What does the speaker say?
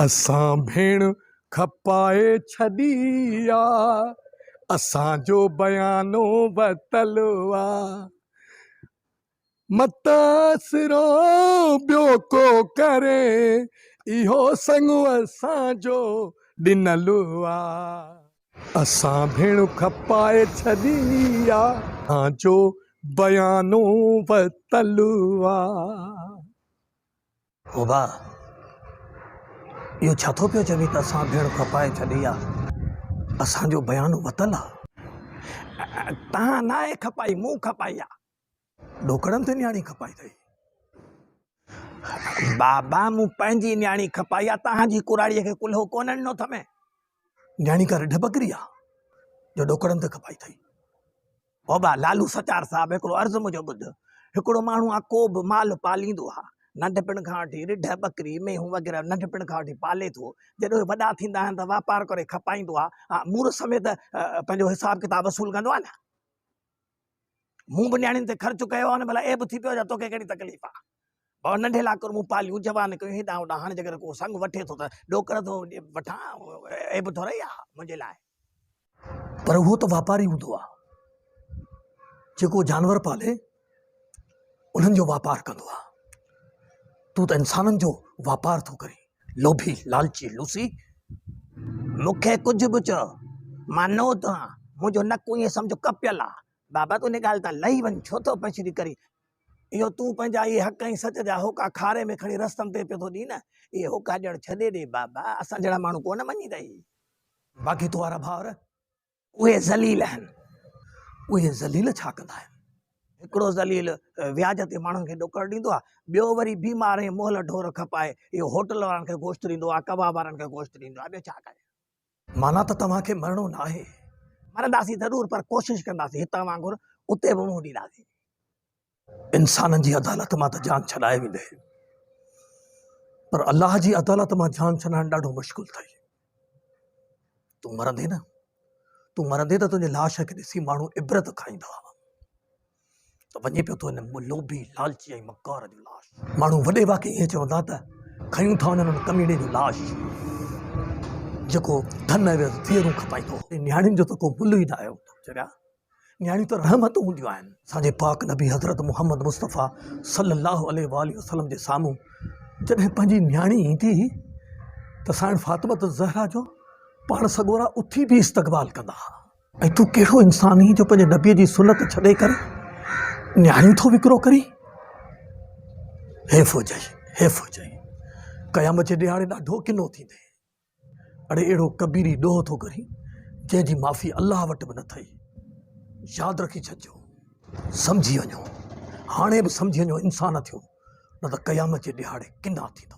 اسان ڀيڻ کپائي ڇڏي آ، اسان جو بيانو وتل آ، متاثرو ٻيو ڪو ڪري اهو سڱ اسان جو ڏنل آ، اسان ڀيڻ کپائي ڇڏي آ، اسان جو بيانو وتل آ. او ڀاء! اهو ڇا ٿو پيو چوين ته اسان ڀيڙ کپائي ڇڏي آ، اسان جو بيانو وتل آ؟ تهان ناهي کپائي، مون کپائي آ. ڏوڪڙن تي نياڻي کپائي اٿئي. بابا مون پنهنجي نياڻي کپائي آ، تهان جي ڪراڙيء کي ڪلهو ڪونه ڏنو اٿم. نياڻي ڪا رڍ ٻڪري آ جو ڏوڪڙن تي کپائي ٿئي. بابا لالو سچار صاحب هڪڙو عرض منهنجو ٻڌ، هڪڙو ماڻهو آ ڪو به مال پاليندو آ، ننڍپڻ کان وٺي رڍ، ٻڪري، مينهون وغيره ننڍپڻ کان وٺي پالي ٿو، جڏهن اهي وڏا ٿيندا آهن ته واپار ڪري کپائيندو آ، مورس سميت پنهنجو حساب ڪتاب وصول ڪندو آ نه. مون به نياڻين تي خرچ ڪيو آهي نه ڀلا عيب ٿي پيو جا توکي ڪهڙي تڪليف آ ڀاء ننڍي لاڪر مون پاليون جوان ڪيون هيڏانهن هوڏانهن هاڻي جيڪڏهن ڪو سنگ وٺي ٿو ته ڏوڪڙ ٿو وٺان عيب ٿورئي آ منهنجي لاء پر اهو ته واپاري هوندو آ جيڪو جانور پالي انهن جو واپار ڪندو آ تون ته انسانن جو واپار ٿو ڪرين لوڀي لالچي لوسي، مون کي ڪجهه به چئو، مان نو ٿو هان، منهنجو نڪ ايئن سمجهه ڪپيل آ. بابا تون ان ڳالهه تان لهي وڃ، ڇو ٿو پڇري ڪرين، اهو تون پنهنجا اهي حق ۽ سچ جا هوڪا کاري ۾ کڻي رستن تي پيو ٿو ڏئين، اهي هوڪا ڄڻ ڇڏي ڏي بابا، اسان جهڙا ماڻهو ڪونه مڃيندئي. باقي تو وارا ڀائر اهي ذليل آهن. اهي ذليل ڇا ڪندا آهن؟ هڪڙو ذليل وياج تي ماڻهن کي ڏوڪڙ ڏيندو آهي، ٻيو وري بيمار ۽ مهل ڍور کپائي اهو هوٽل وارن کي گوشت ڏيندو آهي، ڪباب وارن کي گوشت ڏيندو آهي، ٻيو ڇا ڪجي؟ معنيٰ ته توهان کي مرڻو ناهي. مرنداسين ضرور پر ڪوشش ڪنداسين هتان وانگر اتي به منهن ڏينداسين. انسانن جي عدالت مان ته جان ڇڏائي ويندي پر الله جي عدالت مان جان ڇڏائڻ ڏاڍو مشڪل اٿئي تون مرندي نه تون مرندي ته تنهنجي لاش کي ڏسي ماڻهو عبرت کائيندا ته وڃي پيو تو هن لوڀي لالچي ۽ مڪار جو لاش ماڻهو وڏي واقعي ائين چوندا ته کيون ٿا وڃن ڪميڙي جو لاش جيڪو ڌن ۽ ڌيئرون کپائيندو نياڻين جو ته ڪو مل ئي نه آيو چريا نياڻيون ته رحمت هونديون آهن. اسان جي پاڪ نبي حضرت محمد مصطفيٰ صلّي اللّٰه عليه واٰله وسلّم جي سامهون جڏهن پنهنجي نياڻي ايندي هئي ته سائڻ فاطمة الزهرا جو پاڻ سڳورا اٿي بيهي استقبال ڪندا ها. ۽ تون ڪهڙو انسان هين جو پنهنجي نبي جي سنت ڇڏي ڪري نياڻيون ٿو وڪرو ڪرين. حيف هجئي، حيف هجئي. قيامت جي ڏيهاڙي ڏاڍو ڪنو ٿيندين. اڙي اهڙو ڪبيري ڏوهه ٿو ڪرين جنهن جي معافي الله وٽ به نه اٿئي. ياد رکي ڇڏجو. سمجهي وڃو. هاڻي به سمجهي وڃو انسان ٿيو نه ته قيامت جي ڏهاڙي ڪنا ٿيندو.